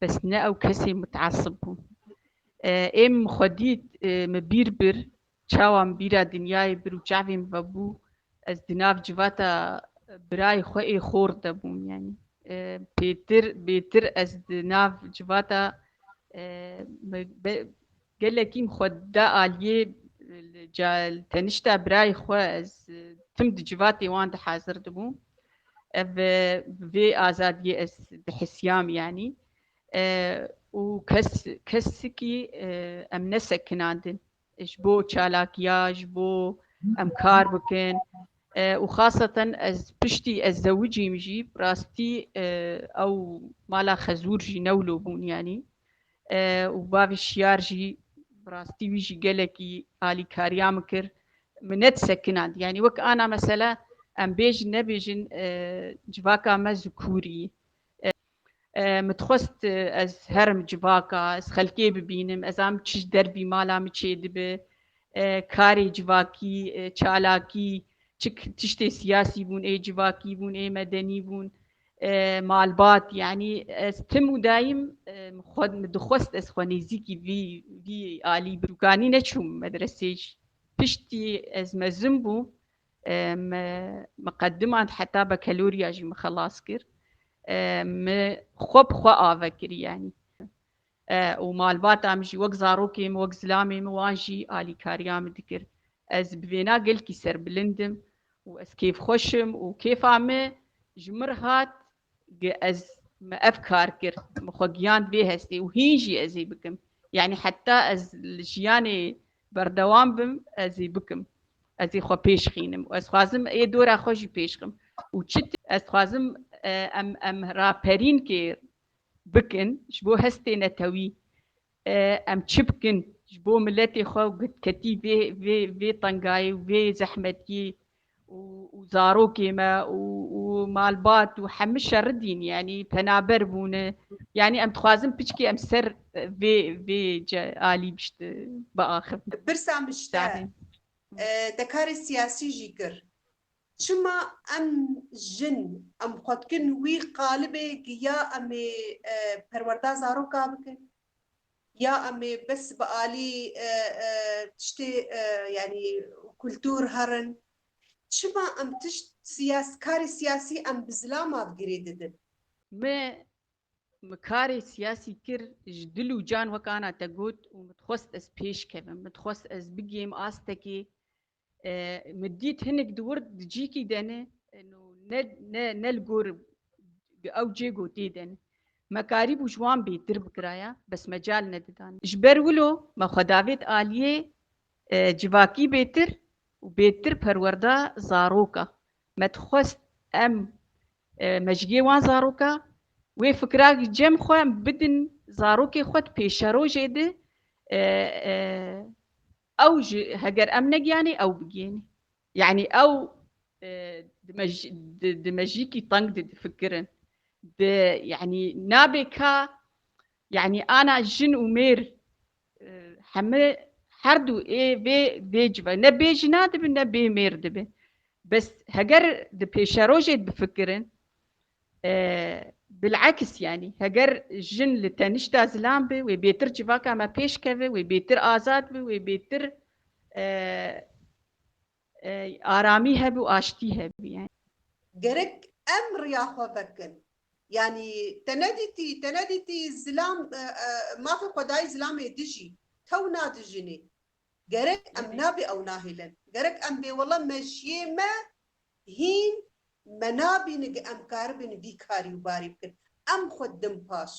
Bes ne ew kesê mutesib bû. Êm min xwe dît, min bîr bir, çawa min bîra dinyayê bir û çavê min vebû, ez di nav civata birayê xwe ê xor de bûm yanî. Pêtir, bêtir ez di nav civata Gelek îm xwe da aliyê li cayl tenişta birayê xwe ez tim di civatê wan de hazir dibûm ev bi vê azadiyê ez dihisiyam yanî û kes kesikî em nesekinandin ji bo çalakiya ji bo em kar bikin û xaseten ez piştî ez zewicîm jî rastî ew mala xezûr jî newlo bûn yanî û bavê Şiyar jî bi rastî wî jî gelekî alîkariya min kir min net sekinand yanî wek ana mesela em bêjin nebêjin civaka me ji kûrî min dixwest ez herim civaka ez xelkê bibînim ez am çi ji derbî mala min çê dibe karê civakî çalakî çi tiştê siyasî bûn ê civakî bûn ê medenî bûn Malbat yanî ez tim û dayîm xwe dixwest ez xwe nêzîkî vî vî alî birûkanî neçûm medresê jî. Piştî ez mezin bûm me me qedimand heta bekelorîya jî min xelas kir. Me xwe bi xwe ave kir yanî. û malbata min jî wek zarokê min, wek zilamê min wan jî alîkariya min dikir. Ez bi vêna gelkî serbilind im û ez kêfxweş im û kêfa min ji min re hat gi ez me ev kar kir, min xwe giyand vê hestê û hîn jî ez ê bikim. Yanî heta ez li jiyanê berdewam bim ez ê bikim. Ez ê xwe pêş xînim û ez dixwazim ê dora xwe jî pêş xim û çi tê ez dixwazim em em raperînkê bikin ji bo hestê netewî em çi bikin ji bo miletê xwe û gitketî vê vê vê tengayê û vê zehmetiyê û û zarokê me û û malbat û hemû şeridîn yanî penaber bûne yanî em dixwazin piçkî em ser vê vê ce alî bişt biaxivin. Pirsa min ji te te karê siyasî jî kir. Çima em jin, em xwe dikin wî qalibê ki ya em ê perwerda zaroka bikin, ya em ê bes bi alî tiştê yanî kultur herin. Çima em tişt siyas, karê siyasî em bi zilama girê didin. Me min karê siyasî kir ji dil û can wek ana te got û min dixwest ez pêş kevim, min dixwest ez bigihim astekê Min dît hinek di wir di cîkî de ne ne ne ne li gor ew cê gotê de ne. Me karîbû ji wan bêtir bikiraya bes mecal nedidan. Ji ber wilo me xwe davêt aliyê civakî bêtir û bêtir perwerda zaroka. Me dixwest em mejgê wan zaroka wê fikira cem xwe em bidin zarokê xwe di pêşerojê de Ew jî heger em negiyanê ew bigihînê. Yanî ew di mejîkî teng de difikirin. Di yanî nabê ka yanî ana jin û mêr heme her du ê vê vê cive ne bê jina dibin ne bê mêr dibin. Bes heger di pêşerojê de bifikirin Bil'eks yanî heger jin li tenişta zilam be wê bêtir civaka me pêş keve, wê bêtir azad be, wê bêtir aramî hebe û aştî hebe yanî. Gerek em riya xwe vekin. Yanî te nedîtî, te nedîtî zilam mafê xwe dayî zilamê dijî, tew nadijînî. Gerek em nabê ew nahêlin. Gerek em bê wele me jiyê me Hîn me nabîne ge em karibin vî karî û barî bikin. Em xwe didin paş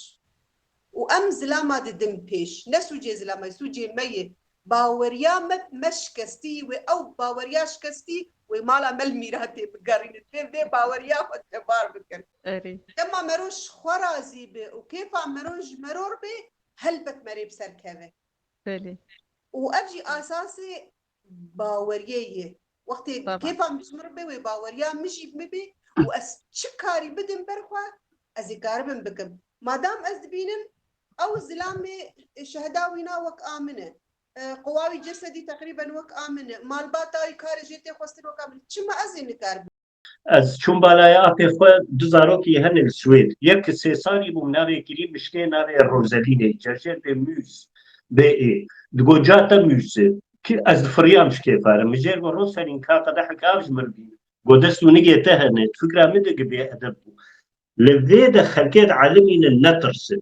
û em zilama didin pêş. Ne sûcê zilamayê, sûcê me ye. Baweriya me bi me şikestî yî wê ew baweriya şikestî wê mala me li mîratê bigerîne. Divê vê baweriya xwe tebar bikin. Dema meroj ji xwe razî be û kêfa meroj ji meror be helbet me rê bi ser keve. Û ev jî esasê Baweriyê yê. Wextê kêfa min ji min re bê wê baweriya min jî min bê û ez çi karî bidim ber xwe ez ê karibim bikim. Madam ez dibînim ew zilamê şehida wî na wek a min e. Qowa wî cesedî teqrîben wek a min e. Malbata wî karê jê tê xwestin wek a min e. Çima ez ê nikaribim? Ez çûm balaya apê xwe du zarokî hene li Swêd. Yek ki sê salî bû navê Kirî mişkê navê Rozelinê cerjer bê Mûz bê ê. Digo ca te Mûz e. Ki ez difiriyam ji kêfa re. Mijêr go Roselîn ka qedehek av ji min bîn. Go dest û nigê te hene. Di fikra min de gi bêedeb bû. Li vê de xelkê di elimînin netirsin.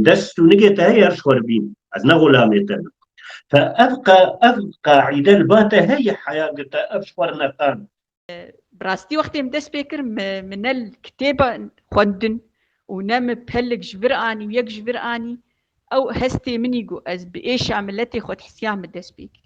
Dest û nigê te heye ji xwe re bîn. Ez ne xulamê te ne. Te ev ev qaîde li ba te heye heya ku te ev ji xwe re neqand. Bi rastî wextê min dest pê kir min ne kitêb xwendin û ne min pelik ji vir anî û yek ji vir anî ew hestê min î ku ez bi êşa miletê xwedihisiyan min dest pê kir.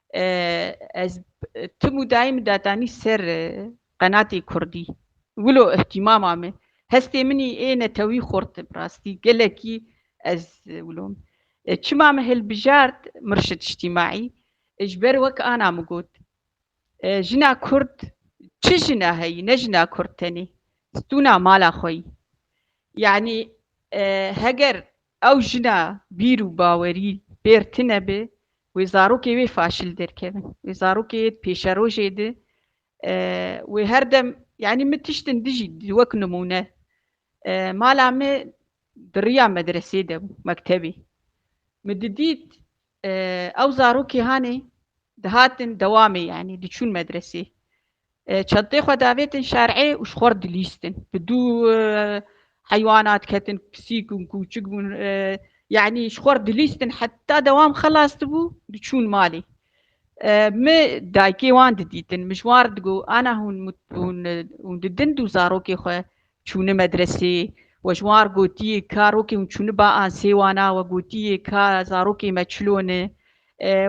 Ez tim û dayim datanî ser qenatê kurdî. Wilo îhtîmama min. Hestê min î ê netewî xurt e bi rastî. Gelekî ez wilo min. Çima min hilbijart Murşid Îjtîmaî? Ji ber wek ana min got. Jina kurd çi jina heyî, ne jina kurd tenê. Stûna mala xwe yî. Yanî heger ew jina bîr û bawerî bêr tune be, Wê zarokê wê faşil derkevin. Wê zarokê yê di pêşerojê di wê her dem yanî min tiştin dijî wek nimûne mala me di riya medresê de bû mektebê. Min didît ew zarokê hanê dihatin dewamê yanî diçûn medresê. Çentê xwe davêtin şerê û ji xwe re dilîstin. Bi du heywanat ketin pisîk û kûçik bûn. Yanî ji xwe re dilîstin heta dewam xelas dibû diçûn malê. Mi dayikê wan didîtin. Mi ji wan re digot ana hûn hûn didin du zarokê xwe Çûni medresê, we ji wan gotiye ka rokê hûn çûni ba an sêwana, we gotiye ka zarokê me çilo ne,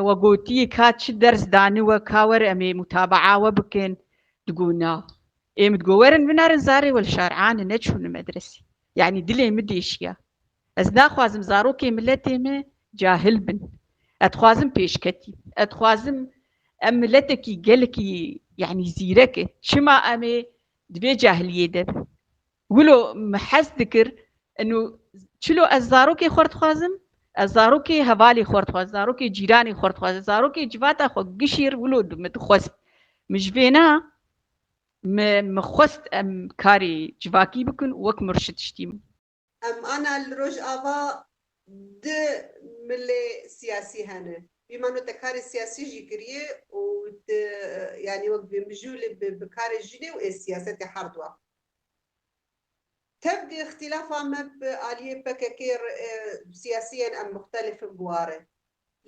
we gotiye ka çi ders dani we ka were em ê mutabaa we bikin, digo na. Ê min digo werin binarin zarê we li şar a ne, ne çûni medresê. Yanî dilê min deşiya. Ez naxwazim zarokê miletê me cahil bin. Ez dixwazim pêşketîn. Ez dixwazim em miletekî gelekî yanî zîrek in. Çima em ê Di vê cahiliyê de bi. Wilo min hez dikir inu çilo ez zarokê xwe dixwazim, ez zarokê hevalê xwe dixwazim, zarokê cîranê xwe dixwazim, zarokê civata xwe gişîr wilo di min dixwest. Min ji vê na min xwest em karê civakî bikin û wek murşid tiştîm. Em ana li Rojava du milê siyasî hene. Wî mano te karê siyasî jî kiriyê û tu yanî wek bi mijûl ê bi karê jinê û ê siyasetê herdwa. Tevgê îxtîlafa me bi aliyê pkk re siyasiyên em muxtelif in biware.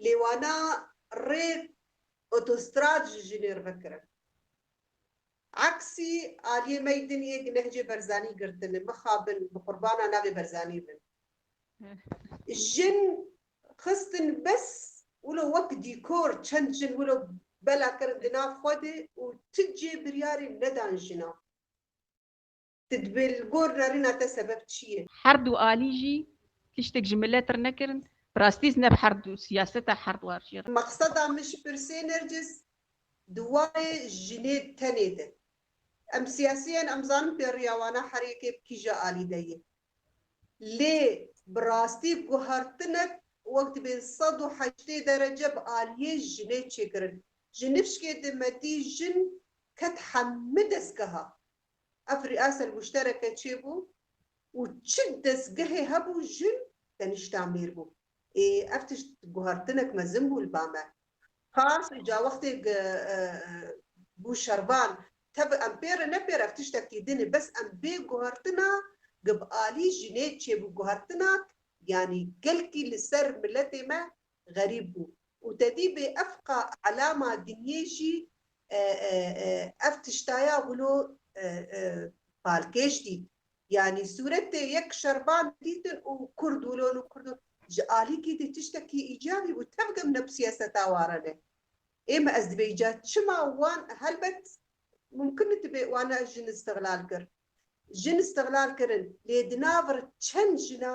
Lê wana rê otostrad ji jinê re vekirin. Aksî, Aliyê Meydin yê di Nehcê Berzanî girtine. Mixabin, bi qurbana navê Berzanî bin. Jin xistin bes wilo wek dîkor, çend jin wilo bela kirin di nav xwe de û ti cê biryarê nedan jina. Tu dibê li gor rerina te sebeb çi ye? Herdu alî jî tiştek ji milet re nekirin. Bi rastî ez ne bi herdu siyaseta herdwar jî re. Mexseda min ji pirsê Nergis di warê jinê tenê de. Em siyasî in, em zanin pêriya wana herêkê bi kîja alî de ye. Lê bi rastî guhertinek wek dibê sed û heştê derece bi aliyê jinê çêkirin. Ji nifşkê de me dî jin ket hemû dezgeha. Ev rîasel muştereke çê bû û çi dezgehê hebû jin tenişta mêr bû. Ê ev tişt guhertinek mezin bû li ba me. Qas îca wextê gi bû şervan. Tebi em pê re ne pê re ev tiştekî din e bes em bê guhertina gi bi alî jinê çê bû guhertinak yanî gelkî li ser miletê me xerîb bû û te dî bê ev ka elama dinyê jî ev tişta ya wilo palkêş dît yanî sûretê yek şerban dîtin û kurd wilo nû kurd wilo ji alîkî dî tiştekî îcabî bû tevg em neb siyaseta warane ê me ez dibê îca çima wan helbet mumkin nidibê wan jin îstiglal kir jin îstiglal kirin lê di nav çend jina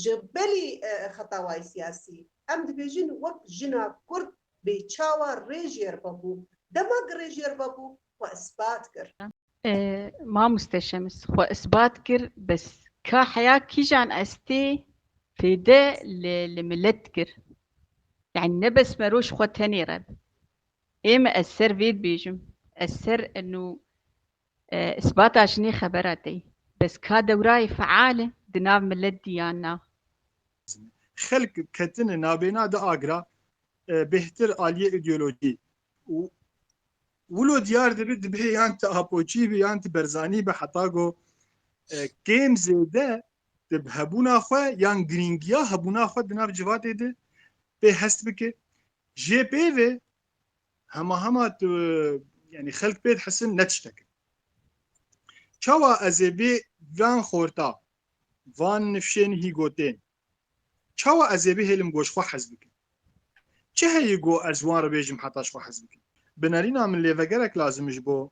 Ji belî xetawayî siyasî, em dibêjin wek jina Kurd bê çawa Rêjyer Babû, dema ku Rêjyer Babû xwe isbat kir. Mamoste Şems xwe isbat kir bes. Ka heya kîjan estê fêde li milet dikir. Yanî ne bes me roj xwe tenê re. Ême ez ser vê dibêjim. Ez ser enû Îsbata jinê xebera te yî. Bes ka dewrayê feal e di nav milet dî yan na. Xelk ketine nabêna di agra bêhtir aliyê îdeolojî û wilo diyar dibe dibê yan ti Apoçî be yan ti Berzanî be heta go kêm zêde di hebûna xwe yan girîngiya hebûna xwe di nav civatê de pê hest bike. Jê pê ve hema hema tu yani xelk pê dihesin ne tiştek çawa ez ê vê van xorta van nifşên hî gotên çawa ez ê bihêlim goş xwe hez bikim çi heyî go ez wan re bêjim heta xwe hez bikim binarîna min lêvegerek lazim ji bo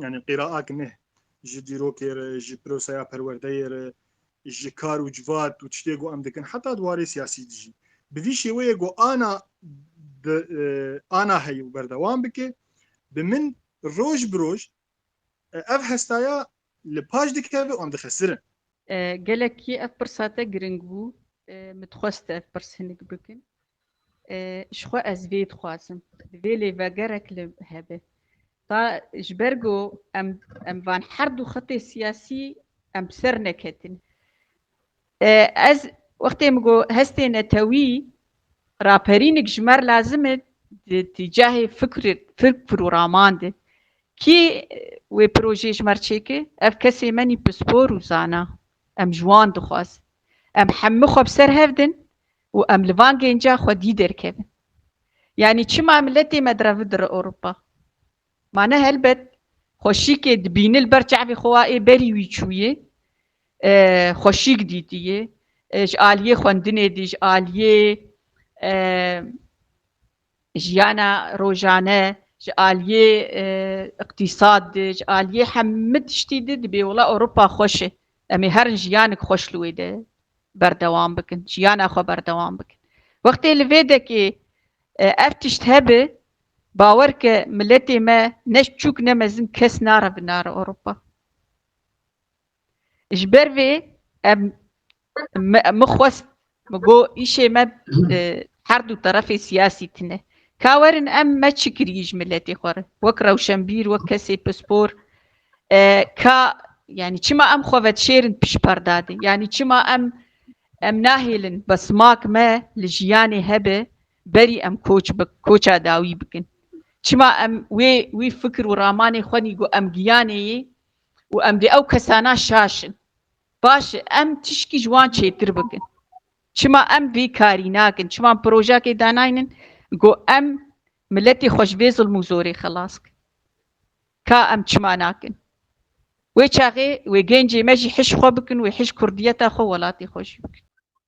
Yanî qîraak ne ji dîrokê re, ji piroseya perwerdeyê re, ji kar û civat û tiştê ku em dikin heta di warê siyasî de jî. Bi vî şêweyê ku ana bi ana heye û berdewam bike, bi min roj bi roj ev hestaya li paş dikeve û em dixesirin. Gelekî ev pirsa te giring bû. Min dixwest ev pirs hinek bikin. Ji xwe ez vê dixwazim. Divê lê vegerek li hebe. Ta ji ber ku em em van her du xetê siyasî em bi ser neketin. Ez wextê min ku hestê netewî raperînik ji me re lazim e di di cihê fikr fikr û raman de. Kî wê projeyê ji me re çêke? Ev kesê menî pispor û zana. Em ji wan dixwazin. Em hemû xwe bi ser hev din. Û em li van gênca xwedî derkevin. Yanî çima em li tê me direvi dire Ewropa? Ma ne helbet xweşîkê dibîni li ber çavê xwe wa ê berî wî çûyê, xweşîk dîtiyê, ji aliyê xwendinê dî, ji aliyê Jiyana rojane ji aliyê iqtîsad de, ji aliyê hemû tiştî de dibê wila Ewropa xweş e. Em ê herin jiyanik xweş li wê de berdewam bikin, jiyana xwe berdewam bikin. Wextê li vê dekê ev tişt hebe, bawer ke miletê me ne çûk ne mezin kes nare bi nare Ewropa. Ji ber vê em min xwest min got îşê me herdû terefê siyasî tune. Ka werin em me çi kirî ji miletê xwe re wek rewşenbîr wek kesê pispor ka yanî çima em xwe vedişêrin pişperdadê yanî çima em em nahêlin bi simak me li jiyanê hebe berî em koç bi koça dawî bikin. Çima em wê wî fikir û ramanê xwenî got em giyanê yê û em dê ew kesana şaşin. Baş e em tişkî ji wan çêtir bikin. Çima em vê karî nakin? Çima projeyekê danaynin ku em miletê xwe ji vê zilm û zorê xilas bikin? Ka em çima nakin? Wê çaxê wê gencê me jî hişk xwe bikin, wê hişk kurdiyeta xwe, welatê xwe jî bikin.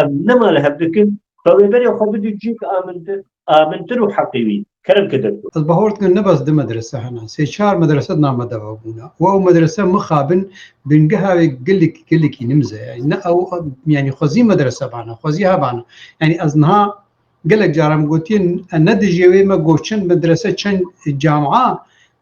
Em nema li hev dikin, xwe wê berê xwe bidî cîk amintir, amintir û heqî wî, kerem ke derkut. Ez bahor dikim ne bes du medrese hene, sê çar medrese di nav me de vebûne û ew medrese mixabin bingeha wê gelek gelekî nimz e. Yanî ne ew yanî xwezî medrese bane, xwezî hebane. Yanî ez niha gelek caran gotiye ne dijî wê me got çend medrese, çend camia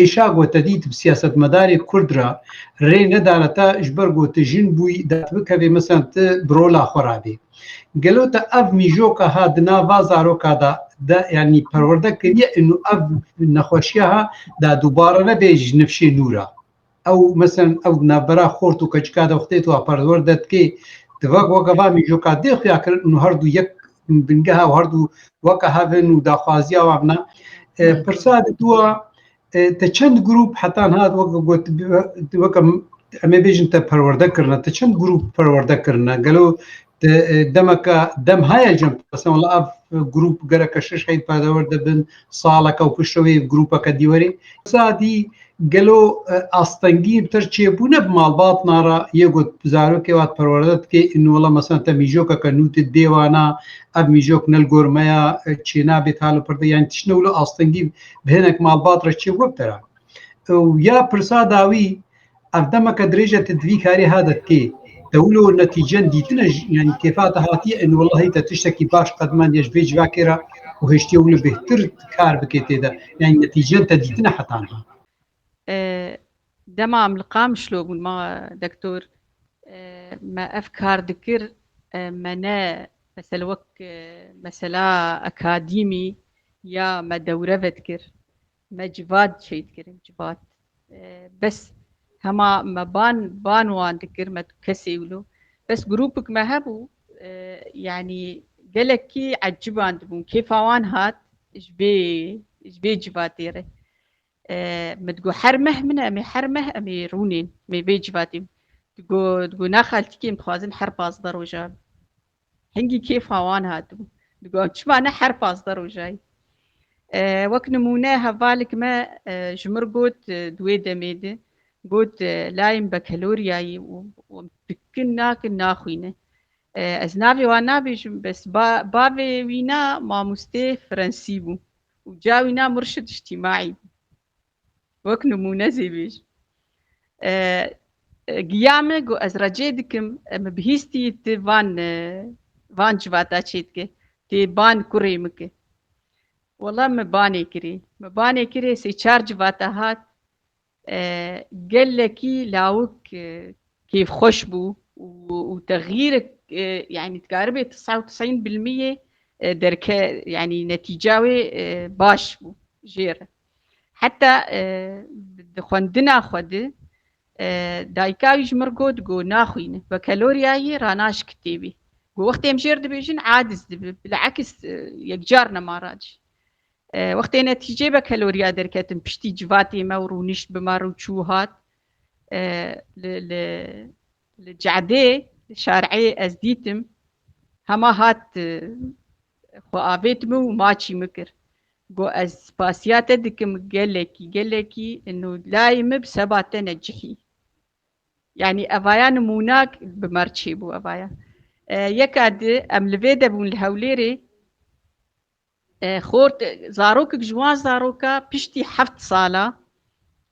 êşa gotedît bi siyasetmedarê Kurd re rê nedara te ji ber ku tu jin bûyî dertbikevê mesela tu bi rola xwe re bî. Gelo te ev mîjoka ha di nava zaroka de de yanî perwerde kiriye û ev nexweşiya ha de dubare nebe ji nifşê nû re. Ew mesen ew navbera xort û keçika de xtê tu apartwar de dikê. Di vak waka va mîjoka dê xuya kirin û her du yek bingeha û her du waka hevin û daxwaziya wa bina. Pirsa di tu a te çend grup heta niha wek got wek em ê bêjin te perwerde kirine te çend grup perwerde kirine gelo demeke dem heye cem qesem la ev grûp gereke şeş heyî perdewr dibin saleke û pişt wê grûpeke dî werî sadî gelo astengî bi ter çêbûne bi malbatna re yê got zarokê wat perwerde dikê inola mesela te mîjokeke nû di dêwana ev mîjok nel gor me ya çêna bê talo perde yani tişne wilo astengî bi hinek malbat re çê web tera ya pirsa dawî Ev demeke dirêje te divî karê ha de tê. Te wilo netîcen dîtine yanî kêfa te hatiye in wellahî te tiştekî baş qedmendiye ji vê civakê re û hiştiye wilo bêhtir kar bikê tê de. Yanî netîcen te dîtine heta niha. Dema em li Qamişlo bûn ma dektor me ev kar dikir me ne mesela wek mesela akadîmî ya me dewre vedikir. Me civat şehîd kirin civat. Bes hema me ban ban wan dikir me tu kesê wilo. Bes grûpik me hebû yanî gelekî eciban dibûn kêfa wan hat ji bê ji bê civatê re. Min digot her meh min e emê her meh emê rûnên mê vê civatê digot digot naxaltikê em dixwazin her pazdeh roja Hingî kêfa wan hatibû. Digot çima ne her pazdeh rojayî. Wek nimûne hevalek me ji mir got di wê demê de got layê min bekeloriyayî û dikin nakin naxwîne. Ez navê wan nabêjim bes bavê wî na mamosteyê Frensî bû û ca wî na murşid îctîmaî bû. Wek nimûne zî bîr giya min ku ez recê dikim min bihîstî ti van van civata çê dike tê ban kurê min ki wela min banê kirî min banê kirê sê çar civata hat gelekî lawik kêfxweş bû û texîr yani dikaribê tis'a û tis'în bilmiyê derke yani netîca wê baş bû jêr Heta di xwendina xwe di dayika wî ji mir got got naxwînin we kelorya yî ranaş kitêbî got wextê em jêr dibêjin adiz dibi bilakis yekcar nemara cî wextê netîcê be kelorya derketin piştî civatê me û rûnişt bi me rû çû hat li Li Cadê li Şareyê ez dîtim hema hat xwe avêt min û maçî min kir. Got ez spasiya te dikim gelekî gelekî û layê min bi seba te ne cihî. Yanî evaya nimûna bi merçê bû evaya. Yeka di em li vê de bûn li Hewlêrê Xort, zarokek ji wan zaroka piştî heft sala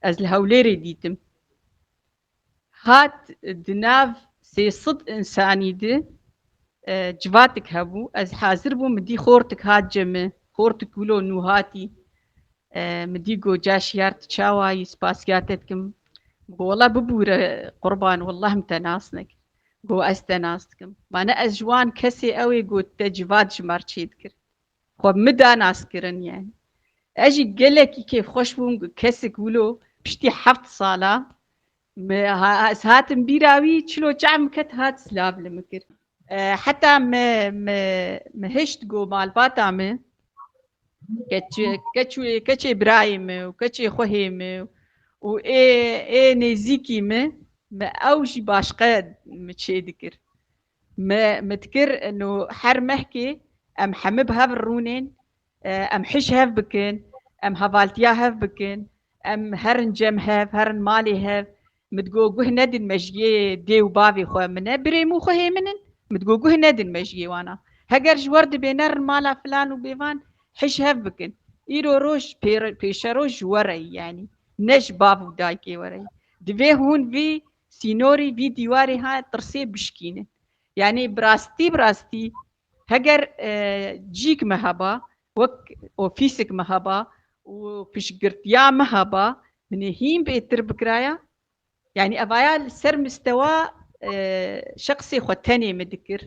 ez li Hewlêrê dîtim. Hat di nav sê sed însanî di civatik hebû. Ez hazir bûm min dî xortik hat ce min. Xortik wilo nû hatî. Min dî got ca şiyar tu çawa yî, spasiya te dikim. Min got wela bibûre qurban welleh min te nas nekir. Got ez te nas dikim. Mane ez ji wan kesê ew ê got te civat ji mar çê dikirin. Xwe min da nas kirin yani. Ez jî gelekî kêfxweş bûm got kesik wilo piştî heft sala me ez hatim bîra wî çilo çav min ket hat silav li min kir. Heta me me me hişt got malbata min Keçê birayê min û keçê xwehê min û ê ê nêzîkî min min ew jî başqe min çê dikir. Min min dikir no her mehkê em hemû bi hev rûnên, em hişk hev bikin, em hevaltiya hev bikin, em herin cem hev, herin malê hev, Min digot guh nedin mejiyê dê û bavê xwe min e, birê min û xwe hê min in. Min digot guh nedin mejiyê wan a. Heger ji wer dibe nerin mala filan û bêvan hij hev bikin. Îro roj pêşeroj ji we re yî yanî ne ji bav û dayikê we re yî. Divê hûn vî sînorî vî dîwarê ha tirsê bişkînin. Yanî bi rastî bi rastî heger cîk me heba Wek ofîsek me heba û piştgirtiya me heba, min ê hîn bêtir bikiraya. Yanî evaya li ser mistewa şexsê xwe tenê min dikir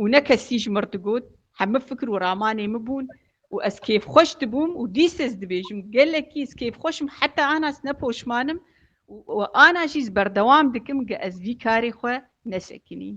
û ne kesî ji min digot. Heme fikir û ramanê min bûn û ez kêfxweş dibûm û dîs ez dibêjim gelekî ez kêfxweş im heta ana ez ne poşman im û ana jî ez berdewam dikim ge ez vî karê xwe nesekinîm.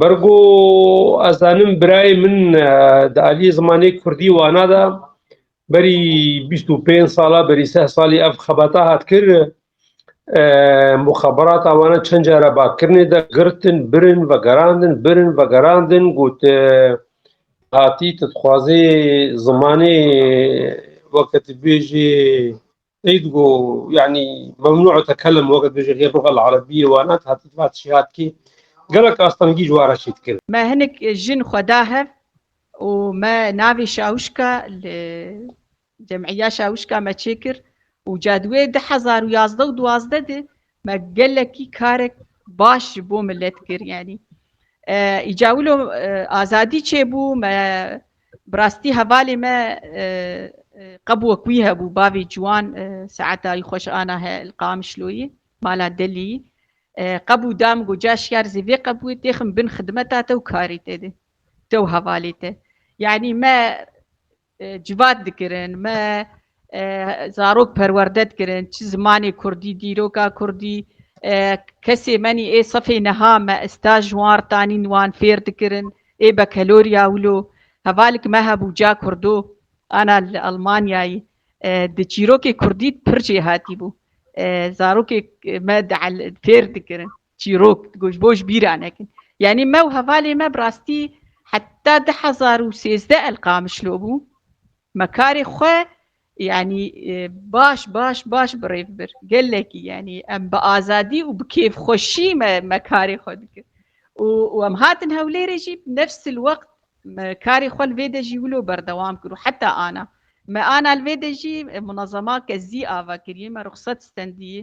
Ber ku ez zanim birayê min di aliyê zimanê kurdî wana de berî bîst û pênc sala berî seh salî ev xebata hat kir muxeberata wana çend care bakirinê de girtin birin vegerandin birin vegerandin got hatî tu dixwazê zimanê weke tu bêjî Seyîd got, Yanî memnû etekelem weke dibêje hê luga li erebiyê wan e, heta di vate şêya dikê. Gelek astengî ji we re çê dikevin. Me hinek jin xwe da hev û me navê şawişka li Cemîya Şawişka me çêkir û ca di wê di hezar û yazdeh û duwazdeh de Me gelekî karek baş ji bo milet kir yanî. Îca wilo azadî çêbû me bi rastî hevalê me qebûk wî hebû bavê ciwan saeta wî xweş ana he li Qamişloyê mala delî qebû da min got ca şiyar zê vê qebûyê têxim bin xidmeta te û karê te de te û hevalê te yanî me Civat dikirin, me zarok perwerde dikirin, çi zimanê kurdî, dîroka kurdî, kesê menî ê sefê niha me staj wan tanîn wan fêr dikirin, ê bekelorya wilo. Hevalêk me hebû ca kurdo ana li Elmanyayê di çîrokê kurdî pir jêhatî bû. Zarokê me fêr dikirin. çîrok digo ji bo ji bîra nekin. Yanî me û hevalê me bi rastî heta di hezar û sêzdeh el qamişlo bû me karê xwe yanî baş baş baş birêv bir gelekî yanî em bi azadî û bi kêfxweşî me me karê xwe dikir û û em hatin hewlêrê jî nefsil wext me karê xwe li vê de jî wilo berdewam kir û heta ana me ana li vê de jî munezema kezî ava kiriye me ruxsat stendiyê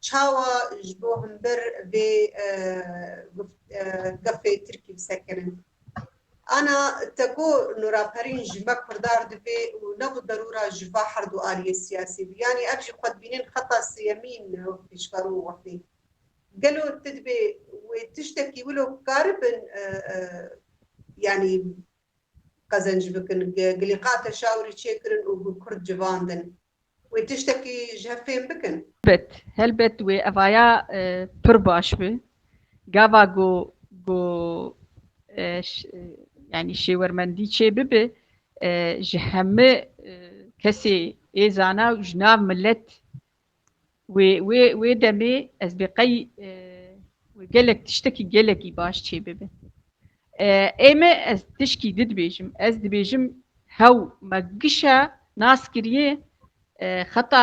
Çawa ji bo him bir vê gefê tirkî bi ser kenin? Ana te ku Nuraperîn ji me kurdar divê û ne bi derûra ji va her du aliyê siyasî bi. Yanî ev jî xwedibînên xeta sêyemîn pêşver û wextê. Gelo tu dibê wê tiştekî wilo karibin yanî qezenc bikin, gilîqa teşawirî çêkirin û bi kurd civandin? Wê tiştekî ji hev fêm bikin. Helbet, helbet wê evaya pir baş bi. Gava ku ku yanî şêwermendî çê bibe ji hemû kesê ê zana û ji nav milet Wê wê wê demê ez bê qey wê gelek tiştekî gelekî baş çê bibe. Ê me ez tişkî di dibêjim. Ez dibêjim hew me gişa nas kiriye xeta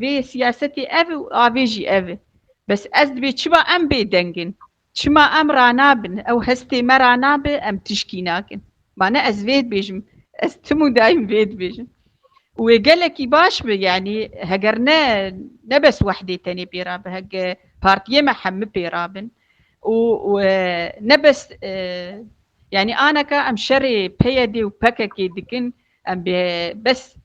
vê siyasetê ev û avê jî ev e. Bes ez dibê çiba em bê dengin. Çima em ranabin, ew hestê me ranabe, em tişkî nakin. Mane ez vê dibêjim, ez tim û daîm vê dibêjim. Û wê gelekî baş bi, yanî heger ne ne bes wehdê tenê pê rabe, hege partiyê me hemû pê rabin û ne bes yanî aneka em şerê PYD û PKK'ê dikin, em bê bes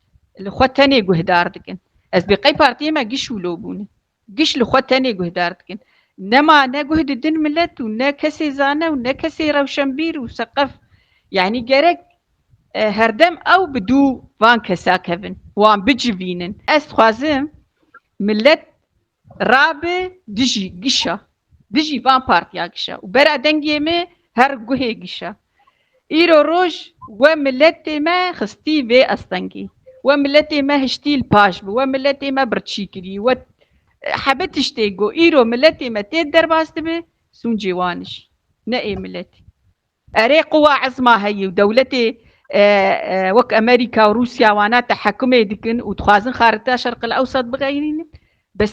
li xwe tenê guhdar dikin. Ez bê qey partiyê me giş û lo bûne. Giş li xwe tenê guhdar dikin. Nema ne guh didin milet û ne kesê zane û ne kesê rewşenbîr û seqef. Yanî gerek herdem ew bi dû van kesa kevin, wan bicivînin. Ez dixwazim milet rabe dijî gişa, dijî van partiya gişa û bera dengê me her guhê gişa. Îro roj we miletê me xistî vê estengî. We miletê me hiştî li paş bi, we miletê me birçî kirî, we hebe tiştê go. Îro miletê me tê derbas dibi, sûncê wan jî. Ne ê miletê. Erê quwa ezma heye û dewletê wek Amerîka û Rûsya wana tehekûmê dikin û dixwazin xarita Şerqil Ewsat bixeyrînin. Bes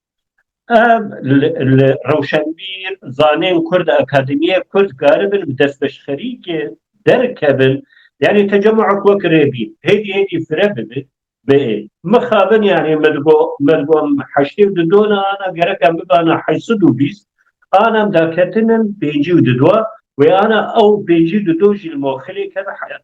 Ev li Rewşenbîr, Zanên Kurd û Akademîya Kurd karibin bi destpêşxerîkê derkevin yanî tecemûek wek rê bîn hêdî hêdî fire bibe biê. Mixabin yanî min digo me digo heştê û di do ne ana gerek em bibana heşt sed û bîst an em daketin in pêncî û di do wê ana ew pêncî û di do jî li moxilê keve heyat.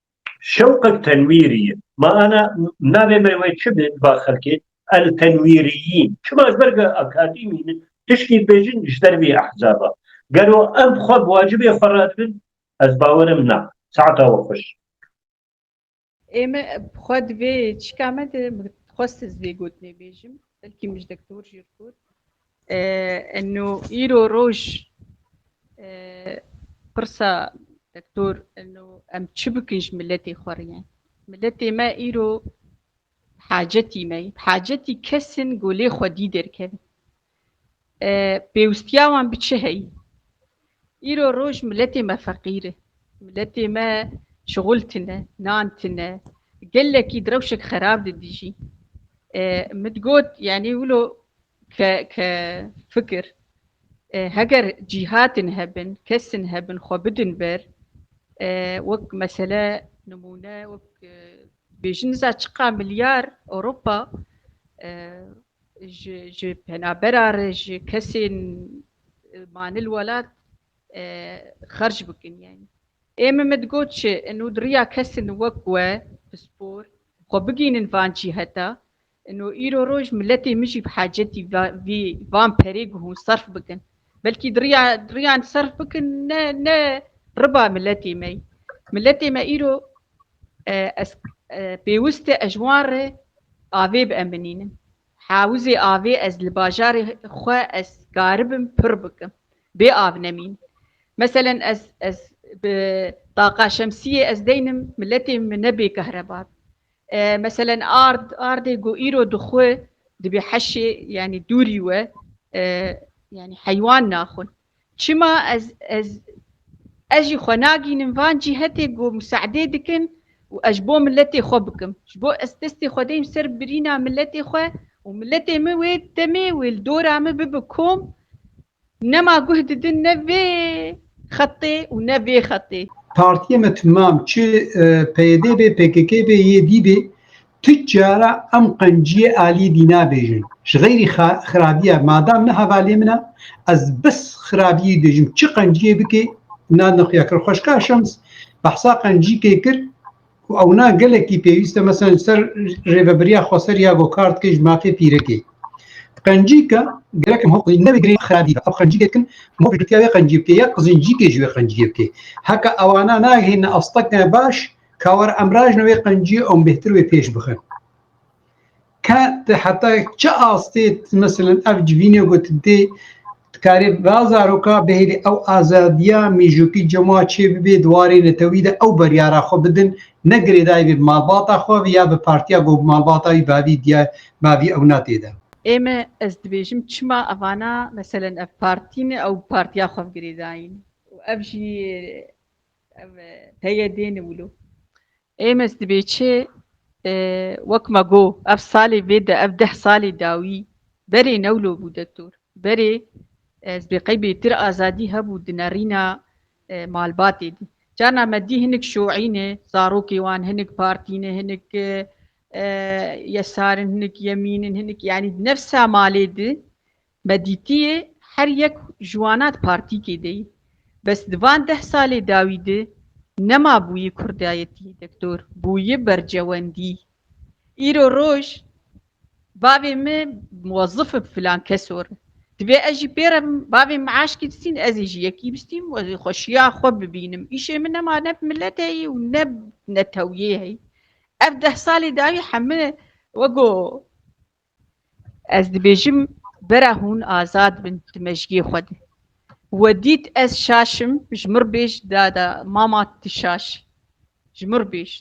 Şewqek tenwîrî ye. Ma ana navê me wê çi be di va xelkê? El tenwîrîyîn. Çima ji ber ku akadîmî ne tiştî dibêjin ji ber vî ehzaba. Gelo em bi xwe bi wacibê xwe re dibin? Ez bawer im na. Saeta we xweş. Ê me bi xwe divê çika me de xwest ez vê gotinê bêjim belkî min ji dektor jî got. Enû îro roj pirsa Doktor enû em çi bikin ji miletê xwe re? Miletê me îro bi hacetî me yê. Bi hacetî kes in ku lê xwedî derkevin. Pêwîstiya wan bi çi heyî? Îro roj miletê me feqîr e. Miletê me şixul tune, nan tune. Gelekî di rewşek xerab de dijî. Min got yanî wilo Ke ke fikir heger cîhatên hebin, kesên hebin xwe bidin ber wek mesele nimûne wek bêjin niza çiqa milyar Ewropa ji ji penabera re ji kesên manil welat xerc bikin yani. Ê min me digot çi û di riya kesên wek we pispor xwe bigînin van cîheta Ino îro roj miletê min jî bi hacetî vî van perê guhûn serf bikin. Belkî diriya diriyan serf bikin ne ne riba miletê me. Miletê me îro ez pêwist e ez wan re avê bieminînim. Hewizê avê ez li bajarê xwe ez karibim pir bikim. Bê av nemîn. Meselen ez ez bi taqa şemsiyê ez deynim miletê min nebê kehreba. Meselen ard, ardê ku îro dixwe dibê heşê yanî dûrî we yanî heywan naxwin. Çima ez ez ez jî xwe nagînim van cîhetê ku musaedê dikin û ez ji bo miletê xwe bikim. Ji bo ez destê xwe deyim ser birîna miletê xwe û miletê min wê demê wê li dora min bibe kom Nema guh didin ne vê xetê û ne vê xetê. Partiyê me timam çi PYD bê, pkk bê, YD bê tu cara em qenciyê aliyê dî nabêjin. Ji xeyrî xirabiya madam ne hevalê min e ez bes xirabiyê dibêjim çi qenciyê bikê na nexuyakir. Xweşka Şems behsa qencîkê kir Ku ewna gelekî pêwîste mesela ji ser rêvebiriya Xweser ya Gokart ke ji mafê Pîrekê. Qencîka gerekin ho qizîn nevê girê xerabî ew qencîkê dikin ho piştgirtiya wê qencî bike ya qizincîkê ji wê qencîyê bike. Heka ewana nagihêne asteke baş kawar em rajin wê qencîyê ew bêhtir wê pêş bixin. Ke ti heta çi astê meselên ev civînê ku tu dê dikarê va zaroka bihêlî ew azadiya mîjûkî cema çê bibê di warê netewî de ew biryara xwe bidin ne girêdayî bê bi malbata xwe ve ya bi partiya ku malbata wî bavî diyar bavî ewna tê de. Ême ez dibêjim çima evana meselên ev partî ne ew bi partiya xwe ve girêdayî ne û ev jî ev peyê dê ne wilo. Êmes dibê çi? Wek me got, ev salê vê de, ev deh salê dawî berê newlo bû dektor. Berê ez bê qey bêtir azadî hebû di nerîna malbatê de. Carna me dî hinik şoî ne, zarokê wan hinik partî ne, hinik yesar in, hinik yemîn in, hinik yanî di nefsa malê de Me dîtiyê her yek ji wanat partîkê de yî. Bes di van deh salê dawî de nema bûyî kurdayetî dektor, bûyî bercewendî. Îro roj bavê me muwezif bi filan keso re. Divê ez jî pê re bim. Bavê me aşkî bistîn, ezê jî yekî bistîm û ezê xweşiya xwe bibînim. Îşê min nema ne bi milet heyî û ne bi netewiyê heyî. Ev deh salê dawî heme wego Ez dibêjim bera hûn azad bin di mejgiyê xwe de. We dît ez şaşim ji mir bêj dada mama tu şaş ji mir bêj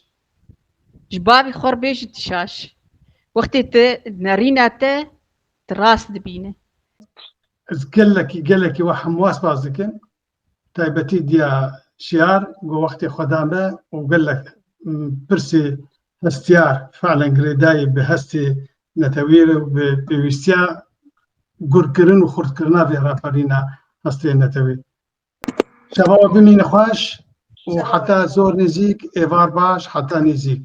ji bavî xwe bêj tu şaş wextê te nerîna te tu rast dibîne. Ez gelekî gelekî we hemwas baz dikim taybetî diya şiyar ku wextê xwe da me û gelek pirsê hestiyar feelen girêdayî bi hestê netewî re û bi pêwîstiya gurkirin û xurtkirina vê raperîna hestê netewî. Şeva we bimîne xweş û heta zor nêzîk êvar baş heta nêzîk.